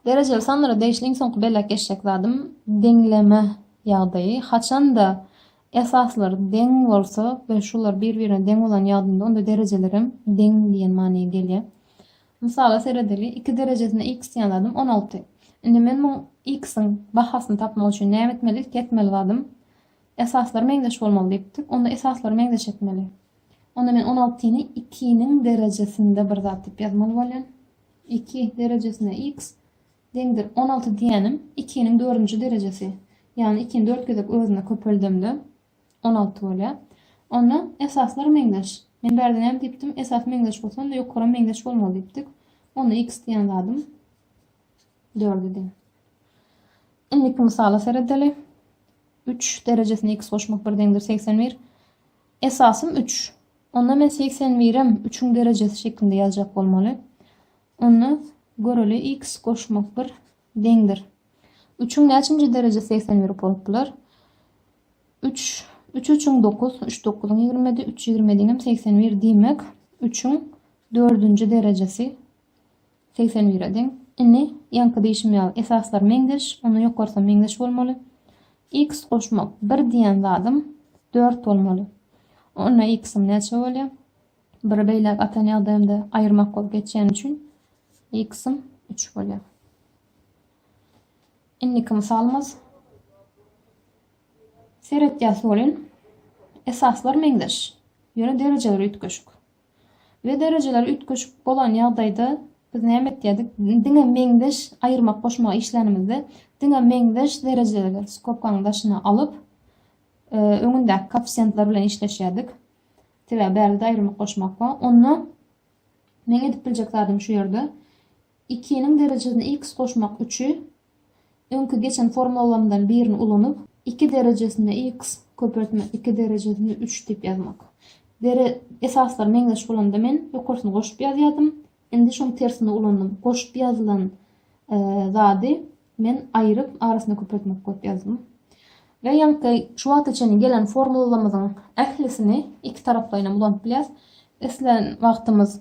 Derejeli sanlara degişli iň soňky belläp geçjek zadym deňleme ýagdaýy. Haçan-da esaslar deň bolsa we şular bir-birine deň bolan ýagdynda onda derejelerem deň diýen manyga gelýär. Mysala seredeli, iki derejesine x diýen zadym on alty. Indi men muň x-iň bahasyny tapmak üçin näme etmeli? Ilki etmeli zadym esaslary meňzeş bolmaly diýipdik. Onda esaslary meňzeş etmeli. Onda men on altyny ikiniň derejesinde bir zat diýip ýazmaly bolýan. Iki derejesine x deňdir. On alty diýýänim ikiniň dördünji derejesi. Ýagny ikini dört gezek özüne köpeldemde on alty bolýar. Onda esaslar meňzeş. Men bärde näme diýipdim? Esas meňzeş bolsa, onda ýokaram meňzeş bolmaly diýipdik. Onda x diýen zadym dört idi. Indiki mysala seredeli. Üç derejesine x goşmak bir deňdir segsen bir. Esasym üç. Onda men segsen birem üçüň derejesi şeklinde ýazjak bolmaly. Onda, göreli, iks goşmak bir deňdir. Üçüň näçinji derejesi segsen bir bolup biler? Üç, üç üçüň dokuz, üç dokuzyň ýigrimidi, üç ýigrimediňem segsen bir diýmek, üçüň dördünji derejesi Segsen bire deň. Indi, ýaňky diýşim ýaly, esaslar meňzeş, onda ýokarsam meňzeş bolmaly. Iks goşmak, bir diýen zadym dört bolmaly. Onda iksiň näçe bolýar? Biri beýläk atan ýagdaýymda aýyrmak bolup geçýäni üçin iksiň üç bolýar. Indiki mysalymyz. Seretýäs welin, esaslar meňzeş, ýöne derejeler üýtgeşik. we derejeler üýtgeşik bolan ýagdaýda biz näme etýärdik? Diňe meňzeş aýyrmak-goşmak işlänimizde diňe meňzeş derejeleri skobkaň daşyna alyp, e, öňündäki koeffisiýentler bilen işleşýärdik. Sebäbi bärde aýyrmak-goşmak bar. Onda meň edip biljek zadym şu ýerde Ikiniň derejesine x goşmak üçi öňki geçen formulalarymdan birini ulanyp, iki derejesine x köpeltmek, iki derejesine üç diýip ýazmak. Dere esaslar meňzeş bolanda men ýokarsyny goşup ýazýardym. Indi şoň tersini ulandym. Goşup ýazylan zady men aýryp arasyna köpeltmek goýup ýazdym. Ve ýaňky şu wagta çenli gelen formulalarymyzyň ählisini iki taraplaýynam ulanyp bilýäs. Islän wagtymyz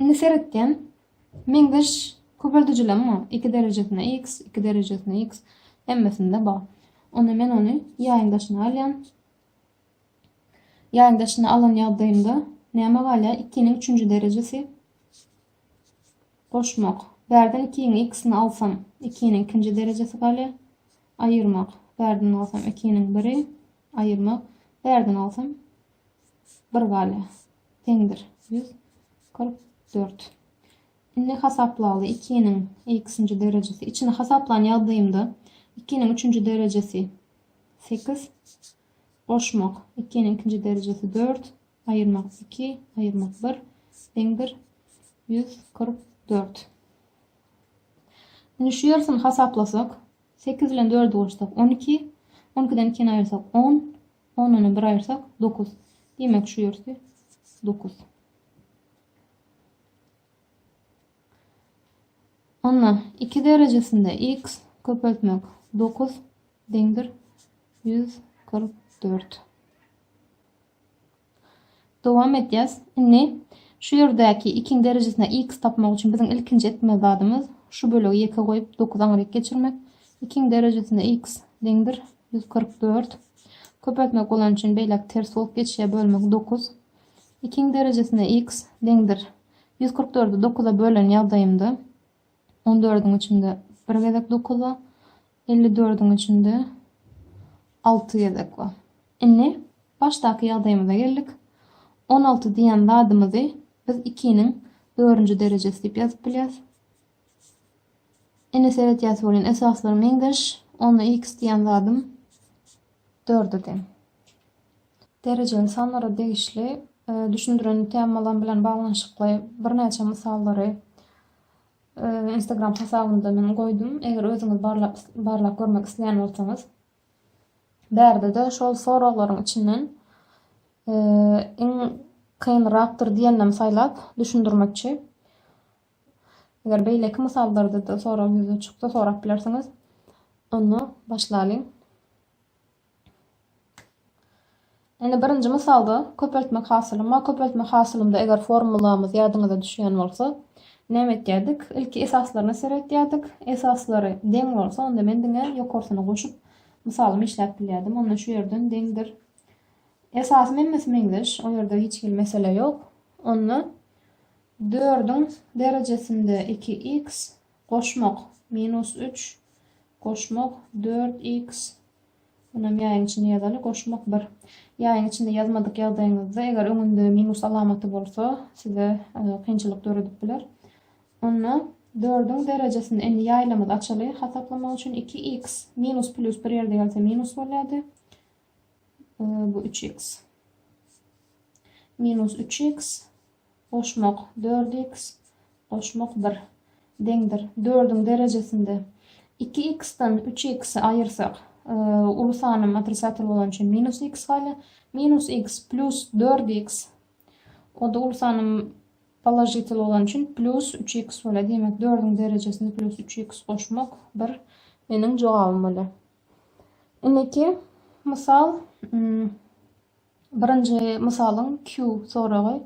Indi seretýän, meňzeş köpeldijileň bar, iki derejesine x, iki derejesine x, hemmesinde bar. Onda men ony ýaýyň daşyna alýan. Ýaýyň daşyna alan ýagdaýymda näme galýar? 2-niň üçünji derejesi goşmak. Bärden 2-niň x-ini alsam, 2-niň ikinji derejesi galýar. Aýyrmak. Bärden alsam 2-niň biri, aýyrmak. Bärden alsam 1 galýar. Teňdir. Ýüz kyrk dört. Indi hasaplaly ikiniň x-nji derejesi. Içini hasaplan ýagdaýymda ikiniň üçünji derejesi sekiz. Goşmak ikiniň ikinji derejesi dört. Aýyrmak iki. Aýyrmak bir. Deňdir. Ýüz kyrk dört. Indi şu ýarysyny hasaplasak. Sekiz bilen dördi goşsak on iki. On ikiden ikini aýyrsak on. Ondanam bir aýyrsak, dokuz. Diýmek, şu ýersi dokuz. Onda iki derejesinde x köpeltmek dokuz deňdir ýüz kyrk dört. Dowam edýäs. Indi şu ýerdäki ikiň derejesine x tapmak üçin biziň ilkinji etmeli zadymyz şu bölegi ýeke goýup dokuz aňryk geçirmek. Ikiň derejesine x deňdir ýüz kyrk dört. Köpeltmek bolany üçin beýläk ters bolup geçýär bölmek dokuz. Ikiň derejesine x deňdir ýüz kyrk dördü dokuza bölen ýagdaýymda On dördüň içinde bir gezek dokuz bar. Elli dördüň içinde alty gezek bar. Indi başdaky ýagdaýymyza geldik. On alty diýen zadymyzy biz ikiniň dördünji derejesi diýip ýazyp bilýäris. Indi seredýäs welin esaslar meňzeş. Onda x diýen zadym dörde deň. Derejeli sanlara degişli e, düşündiren temalar bilen baglanyşykly birnäçe mysallary Instagram hasabynda men goýdum. Eger özüňiz barlap barlap görmek isleýän bolsaňyz. Bärde-de şol soraglaryň içinden iň kynrakdyr diýenini saýlap düşündirmekçi. Eger beýleki mysallarda-da sorag ýüze çyksa sorap bilersiňiz. Onda başlalyň. Indi birinji mysalda köpeltmek hasylym bar. Köpeltmek hasylymda eger formulamyz ýadyňyza düşýän bolsa, näme etýärdik? Ilki esaslaryna seretýärdik. Esaslary deň bolsa, onda men diňe ýokarsyny goşup, mysalymy işläp bilýärdim. Onda şu ýerden deňdir. Esasym hemmesi meňzeş. O ýerde hiç hili mesele ýok. Onda 4-iň derejesinde 2x, Goşmak, minus üç, goşmak, dört iks, Munam ýaýyň içinde ýazaly, goşmak bir. Ýaýyň içinde ýazmadyk ýagdaýyňyzda, eger öňünde minus alamaty bolsa, size kynçylyk döredip biler. Onda dördüň derejesini, indi ýaýlamyzy açaly, hasaplamak üçin iki iks, minus plýus bir ýerde gelse minus bolýardy. Bu üç iks. Minus üç iks, Goşmak, dört iks goşmak bir, deňdir, dördüň derejesinde. Iki iksden üç iks-i aýyrsak, uly sanym otrisatel bolany üçin minus iks gaýla, minus iks plýus dört iks, o-da uly sanym položitel bolany üçin plýus üç iks bolýar. Diýmek, dördüň derejesinde plýus üç iks goşmak bir meniň jogabym bolýar. Indiki mysal, Birinji mysalyň Q soragy.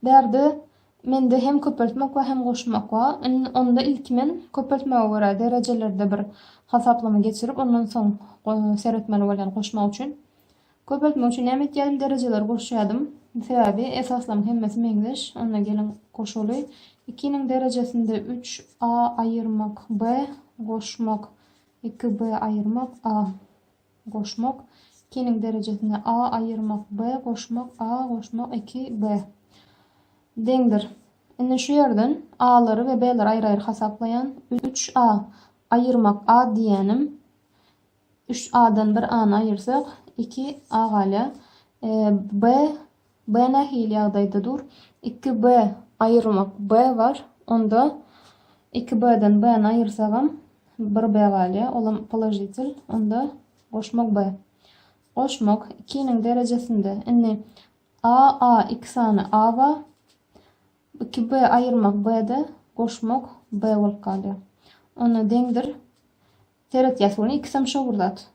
Bärde mende hem köpeltmek we hem goşmak bar. Indi onda ilki men köpeltmege görä derejelerde bir hasaplama geçirip ondan soň seretmeli bolýan goşmak üçin. Köpeltmek üçin näme etýädim derejeleri goşýadym. Sebäbi esaslaryň hemmesi meňzeş. Onda geliň goşaly. Ikiniň derejesinde üç a aýyrmak b goşmak iki b aýyrmak a. goşmak, ikiniň derejesini a aýyrmak b goşmak a goşmak iki b deňdir. Indi şu ýerden a-lary we b-leri aýry-aýry hasaplaýan. Üç a aýyrmak a diýýänim. Üç a-dan bir a-ny aýyrsak, iki a galýar. E, b B nähili ýagdaýda dur? Iki B aýyrmak B bar. Onda iki B-den B-ni aýyrsagam bir B galýar. Olam položitel. Onda goşmak B. Goşmak ikiniň derejesinde. Indi A, A iki sany A bar. Iki B aýyrmak B-de goşmak B bolup galýar. Onda deňdir. Seretýäs bunu ikisem şo bir zat.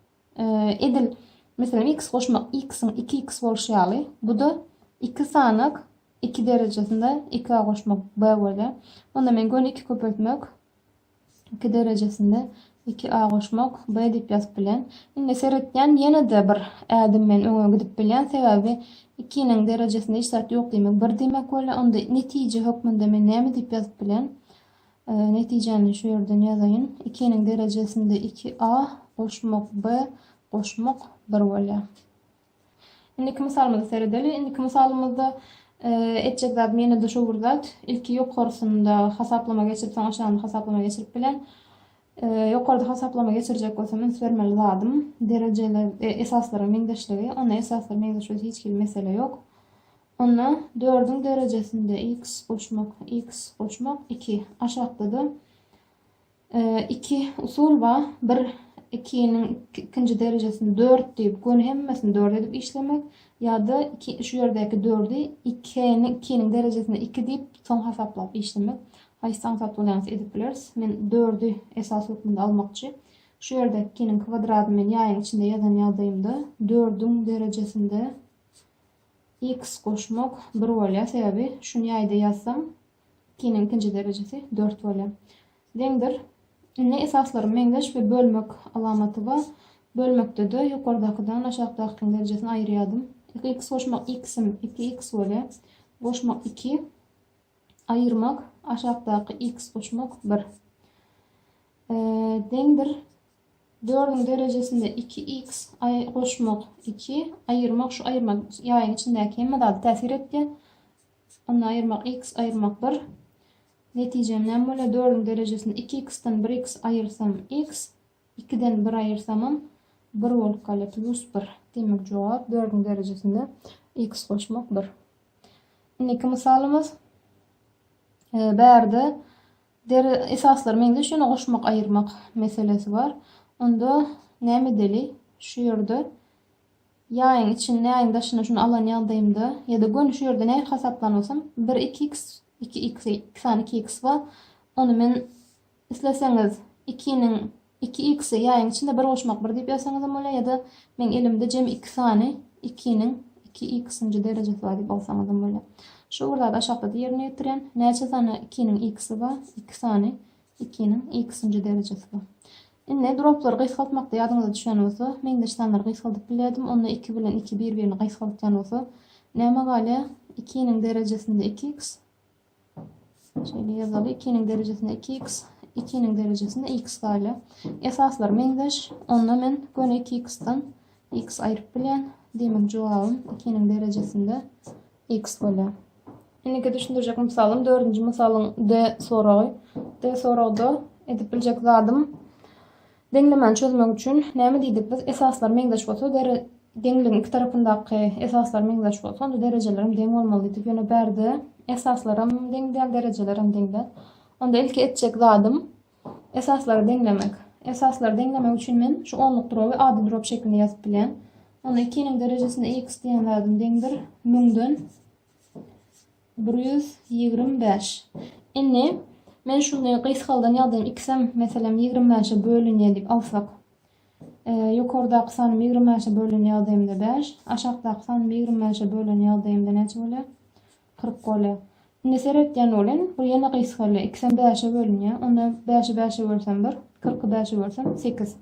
Edil, meselem, x goşmak x-iň iki x bolşy ýaly, bu-da iki sanak iki derejesinde iki a goşmak b bolýar. Onda men göni iki köpeltmek iki derejesinde iki a goşmak b diýip ýazyp bilen. Indi seretýän ýene-de bir ädim men öňe gidip bilýän, sebäbi ikiniň derejesinde hiç zat ýok diýmek bir diýmek bolýar. Onda netije hökmünde men näme diýip ýazyp bilen? Netijäni şu ýerden ýazaýyn. Ikiniň derejesinde iki a goşmak b goşmak bir bolýar. Indiki mysalymyza seredeli. Indiki mysalymyzda e, etjek zat menede şu bir zat. Ilki ýokarsynda hasaplama geçirip, soň aşagynda hasaplama geçirip bilen. E, ýokarda hasaplama geçirjek bolsam, üns bermeli zadym derejeler e, esaslaryň meňzeşligi. Onda esaslaryň meňzeşligi hiç hili mesele ýok. Onda dördüň derejesinde x goşmak, x goşmak iki. Aşakda-da iki usul bar. Bir ikiniň ikinji derejesini dört diýip, göni hemmesini dört edip işlemek ýa-da iki şu ýerdäki dördi ikini ikiniň derejesine iki diýip, soň hasaplap işlemek. Haýsy aňsat bolýansa edip bileris. Men dördi esas hökmünde almakçy. Şu ýerde ikiniň kwadradyny men ýaýyň içinde ýazan ýagdaýymda dördüň derejesinde X goşmak bir bolýar sebäbi şuny ýaýda ýazsam ikiniň ikinji derejesi dört bolýar. Deňdir. Indi esaslarym meňzeş we bölmek alamaty ba bölmekdede ýokardakydan aşakdakykyň derejesini aýyrýadym. X goşmak X-im iki X bolýar. Goşmak iki. Aýyrmak aşakdaky X goşmak bir. Deňdir. Dördüň derejesinde iki iks, aý, goşmak iki, aýyrmak, şu aýyrmak ýaýyň içindäki hemme zady täsir etýär. Onda aýyrmak iks, aýyrmak bir. Netijem näme bolýar? Dördüň derejesinde iki iksden bir iks aýyrsam iks, ikiden bir aýyrsamam bir bolup galýar, plus bir. Demek, jogap dördüň derejesinde iks goşmak bir. Indiki mysalymyz, e, bärde Deri esaslary meňzeş ýöne goşmak aýyrmak meselesi bar. Onda näme edeli? Şu ýerde ýaýyň içinde ýaýyň daşynda şuny alan ýagdaýymda ýa-da göni şu ýerde nähili hasaplan bolsam bir iki x iki x iki sany iki x bar ony men isleseňiz ikiniň Iki x-i ýaýyň içinde bir goşmak bir diýip ýazsaňyzam bolýar ýa-da meň elimde jemi iki sany ikiniň iki x-nji derejesi bar diýip alsaňyzam bolýar. Şu bir zady aşakda-da ýerine ýetirýän. Näçe sany ikiniň x-i bar? Iki sany ikiniň x-nji derejesi bar. Indi droplary gysgaltmakda ýadyňyza düşen bolsa, meňzeş sanlary gysgaldyp bilýärdim. Onda iki bilen iki bir-birini gysgaldýan bolsa, näme galýar? Ikiniň derejesinde iki x, Şeýle ýazaly, ikiniň derejesinde iki x, ikiniň derejesinde x gaýla. Esaslar meňzeş, onda men göni iki x-dan x aýryp bilýän. Demek, jogabym ikiniň derejesinde x bolýar. Indiki düşündirjek mysalym, dördünji mysalyň D soragy. D soragda edip biljek zadym, Deňlemäni çözmek üçin näme diýdik biz? Esaslar meňzeş bolsa, dere deňligiň iki tarapyndaky esaslar meňzeş bolsa, onda derejeler hem deň bolmaly diýdik. Ýöne bärde esaslaram deň däl, derejelerem deň däl. Onda ilki etjek zadym esaslary deňlemek. Esaslary deňlemek üçin men şu onluk droby ady drop şeklinde ýazyp bilýän. Onda 2-niň derejesinde x diýen zadym deňdir 1000-den Bir ýüz ýigrimi bäş. Indi men şuny gysgaldan ýazayyn, ikisem meselem ýigrimi bäşe bölünýär diýip alsak. Ýokardaky sanymy ýigrimi bäşe bölen ýagdaýymda bäş, aşakdaky sanymy ýigrimi bäşe bölen ýagdaýymda näçe bolýar? Kyrk bolýar. Indi seretýän bolun, bu ýene gysgalýar, ikisem bäşe bölünýär, onda bäşi bäşe bölsem bir, kyrky bäşe bölsem sekiz.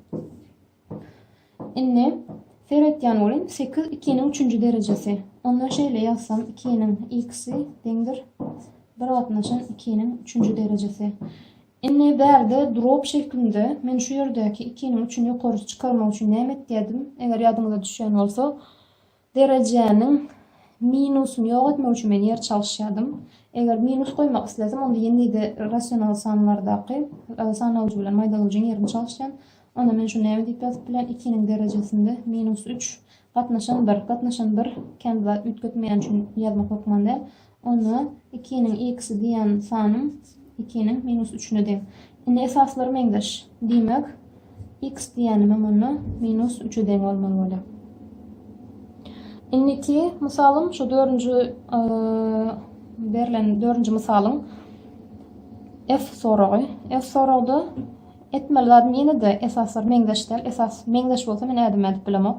Indi seretýän welin, sekiz ikiniň üçünji derejesi. Onda şeýle ýazsam, ikiniň x-i deňdir bir gatnaşan ikiniň üçünji derejesi. Indi bärde drop şeklinde men şu ýerdäki ikiniň üçüni ýokarysy çykarmak üçin näme etýärdim? Eger ýadyňyza düşýän bolsa, Derejäniň minusyny ýok etmek üçin men ýer çalyşýardym. Eger minus goýmak isledim, onda ýene-de rasional sanlardaky sanawjy bilen maýdalyjyň ýerini çalyşýan. Onda men şuny näme diýip ýazyp bilen, ikiniň derejesinde minus üç, gatnaşan bir, gatnaşan bir kän zat üýtgetmeýän üçin ýazmak hökman däl. Onda ikiniň x-i diýen sanyň ikiniň minus üçüne deň. Indi esaslary meňzeş. Diýmek, x diýenimem onda minus üçe deň bolmaly bolýar. Indiki mysalym şu dördünji berlen dördünji mysalyň F soragy. F soragda etmeli zadym ýene-de esaslar meňzeş däl. Esas meňzeş bolsa men ädim edip bilemok.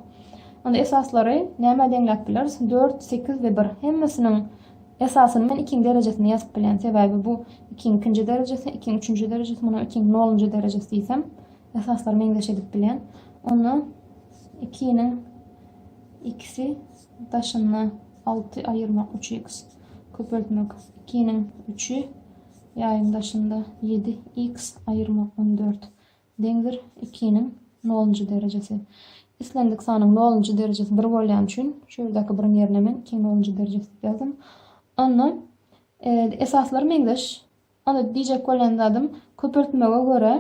Onda esaslary nämä deňläp bileris? Dört, sekiz we bir. Hemmesiniň esasyny men ikiň derejesine ýazyp bilýän. Sebäbi bu ikiň ikinji derejesi, ikiň üçünji derejesi, munuň ikiň nolunjy derejesi diýsem, esaslary meňzeş edip bilýän. Onda ikiniň ikisi daşynda alty aýyrmak üç x köpeltmek ikiniň üçi ýaýyň daşynda ýedi x aýyrmak on dört. Deňdir ikiniň nolunjy derejesi. Islendik sanyň nolunjy derejesi bir bolýan üçin şu ýerdäki biriň ýerine men ikiň nolunjy derejesi diýip ýazdym. Onda e, esaslary meňzeş. Onda diýjek bolýan zadym köpeltmege görä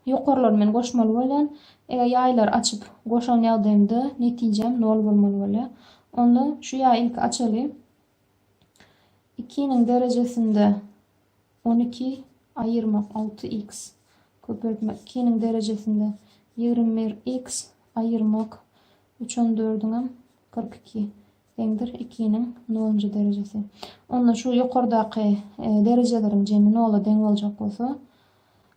ýokarlary men goşmaly bolýan. Eger ýaýlary açyp goşan ýagdaýymda netijem nol bolmaly bolýar. Onda şu ýaýy ilki açaly. Ikiniň derejesinde On iki aýyrmak alty iks köpeltmek ikiniň derejesinde ýigrimi bir iks aýyrmak üç on dördüňem kyrk iki deňdir ikiniň nolunjy derejesi. Onda şu ýokardaky derejeleriň jemi nola deň boljak bolsa,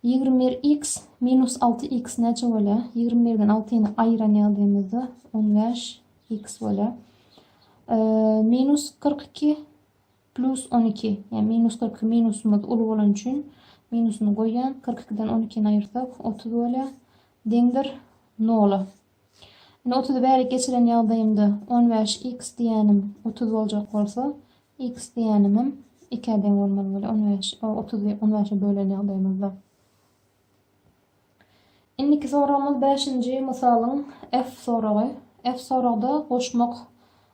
ýigrimi bir iks minus alty iks näçe bolýar? Ýigrimi birden altyny aýyran ýagdaýymyzda on bäş iks bolýar. Minus kyrk iki Plyus on iki, ýa minus kyrk iki minusymyz uly bolany üçin minusyny goýýan, kyrk ikiden on ikini aýyrsak otuz bolýa, deňdir nola. Indi otuzy bärik geçiren ýagdaýymda on bäş x diýýänim otuz boljak bolsa, x diýýänimem ikä deň bolmaly bolýa, on bäş, otuz on bäşe bölen ýagdaýymyzda. Indiki soragymyz bäşinji mysalyň F soragy. F soragda goşmak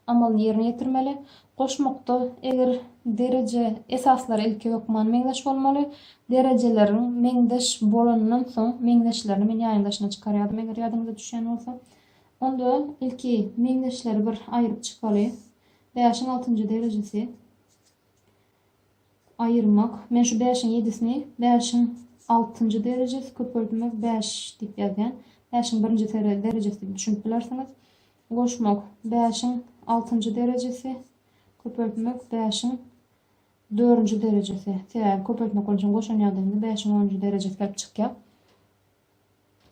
amalyny ýerine ýetirmeli. Goşmakda eger dereje esaslary ilki hökman meňzeş bolmaly. Derejeleriň meňzeş bolanyndan soň meňzeşlerini men ýaýyň daşyna çykarýardym eger ýadyňyza düşýän bolsa. Onda ilki meňzeşleri bir aýryp çykaly. Bäşiň altynjy derejesi. Aýyrmak. Men şu bäşiň ýedisini bäşiň altynjy derejesi köpeltmek bäş diýip ýazýan. Bäşiň birinji derejesi diýip düşünip bilersiňiz. Goşmak. Bäşiň altynjy derejesi köpeltmek bäşiň dördünji derejesi. Sebäbi köpeltmek bolan üçin goşan ýagdaýynda bäşiň onunjy derejesi gelip çykýar.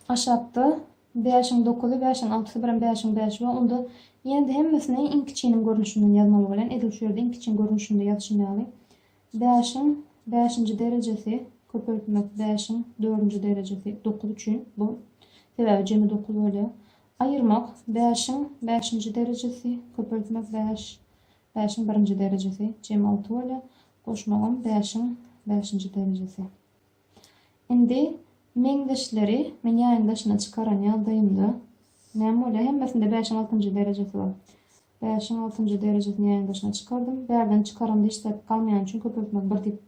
Aşakda bäşiň dokuzy, bäşiň altysy bilen bäşiň bäşi bar. Onda ýene-de hemmesini iň kiçiniň görnüşinden ýazmaly bolýan. Edil şu ýerde iň kiçiniň görnüşinde ýazyşym ýaly. Bäşiň bäşinji derejesi köpeltmek bäşiň dördünji derejesi dokuz üçin bu. Sebäbi jemi dokuz bolýar. Aýyrmak bäşiň bäşinji derejesi köpeltmek bäş bäşiň birinji derejesi jemi alty bolýar. Goşmagam bäşiň bäşinji derejesi. Indi meňzeşleri men ýaýyň daşyna çykaran ýagdaýymda näme bolýar? Hemmesinde bäşiň altynjy derejesi bar. Bäşiň altynjy derejesini ýaýyň daşyna çykardym. Bärden çykaramda hiç zat galmaýan üçin köpeltmek bir diýip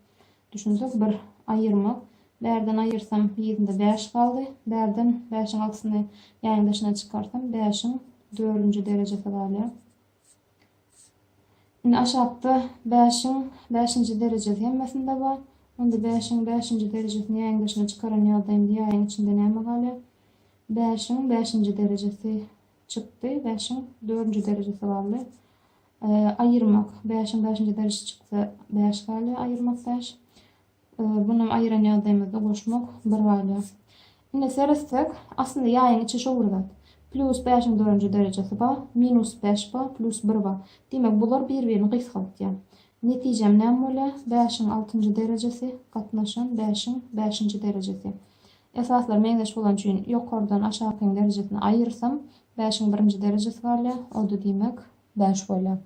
düşünsek, bir aýyrmak. Bärden aýyrsam ýerinde bäş galdy. Bärden bäşiň altysyny ýaýyň daşyna çykarsam bäşiň dördünji derejesi galýar. Indi aşakda bäşiň bäşinji derejesi hemmesinde bar. Onda bäşiň bäşinji derejesini ýaýyň daşyna çykaran ýagda indi ýaýyň içinde näme galýar? Bäşiň bäşinji derejesi çykdy. Bäşiň dördünji derejesi galdy. Aýyrmak. Bäşiň bäşinji derejesi çyksa bäş galýar. Aýyrmak bäş. Bunam aýran ýagdaýymyzda goşmak bir bala. Indi seretsek, aslynda ýaýyň içi şowly zat. Plýus bäşiň dörünji derejesi ba, minus bäş ba, plýus bir ba. Diýmek, bular bir-birini gysgaltýar. Netijem näme bolýar? Bäşiň altynjy derejesi gatnaşan bäşiň bäşinji derejesi. Esaslar meňzeş bolany üçin ýokardan aşakyň derejesini aýyrsam, bäşiň birinji derejesi galýar, o-da diýmek, bäş bolýar.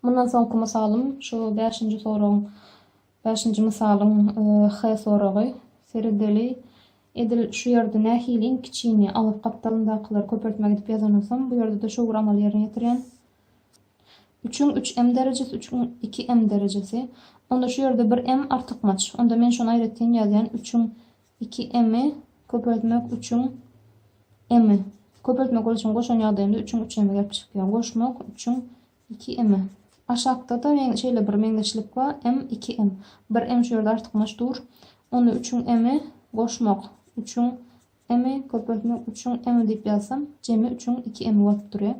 Mundan soňky mysalym şu bäşinji soragyň bäşinji mysalyň H soragy. Seredeli, edil şu ýerde nähili iň kiçini, agyz gapdalyndakylary köpeltmek edip ýazanysym, bu ýerde-de şo bir amaly ýerine ýetirýän. Üçüň üç m derejesi, üçüň iki m derejesi. Onda şu ýerde bir m artykmaç. Onda men şony aýratyn ýazýan, üçüň Iki m-i köpeltmek üçiň m-i. Köpeltmek boluşyny goşan ýagdaýymda üçiň üç m-i gelip çykýar. Goşmak üçiň iki m-i. Aşakda-da men şeýle bir meňzeşlik bar, m iki m. Bir m şu ýerde artykmaç dur. Onda üçiň m-i goşmak üçiň m-i köpeltmek üçiň m-i diýip ýazsam, jemi üçiň iki m-i bolup durýar.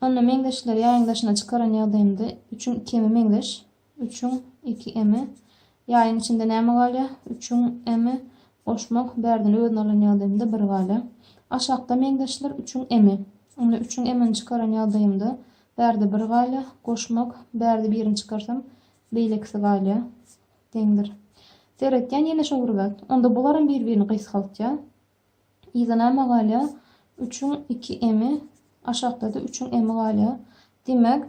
Onda meňzeşleri ýaýyň daşyna çykaran ýagdaýymda üçiň iki m-i meňzeş. Üçüň iki emi. Ýaýyň içinde näme galýa? Üçüň emi. Goşmak, bärden özüni alan ýagdaýymda bir galýa. Aşakda meňzeşler üçüň emi. Onda üçüň emini çykaran ýagdaýymda bärde bir galýa. Goşmak, bärde birini çykarsam, beýlekisi galýa. Deňdir. Seretýän ýene şo bir zat. Onda bularam bir-birini gysgaltýa. Yza näme galýa? Üçiň iki emi, aşakda-da üçiň emi galýa. Diýmek,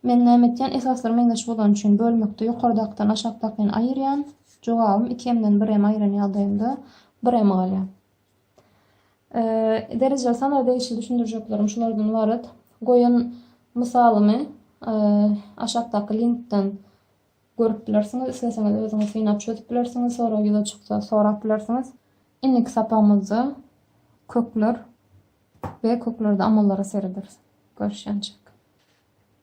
men näme etýän? Esaslar meňzeş bolany üçin bölmekde ýokardakydan aşakdakyny aýyrýan. Jogabym iki emden bir em aýyran ýagdaýynda bir em galýa. Derejeli sanlar degişli düşündirjeklerim şulardan ybarat. Goýan mysalymy aşakdaky linkden Görüp bilersiňiz, isleseňiz özüňiz synap çözüp bilersiňiz, sorag ýüze çyksa sorap bilersiňiz. Indiki sapagymyzda kökler we köklerde amallara serederis. Görüşýänçäk.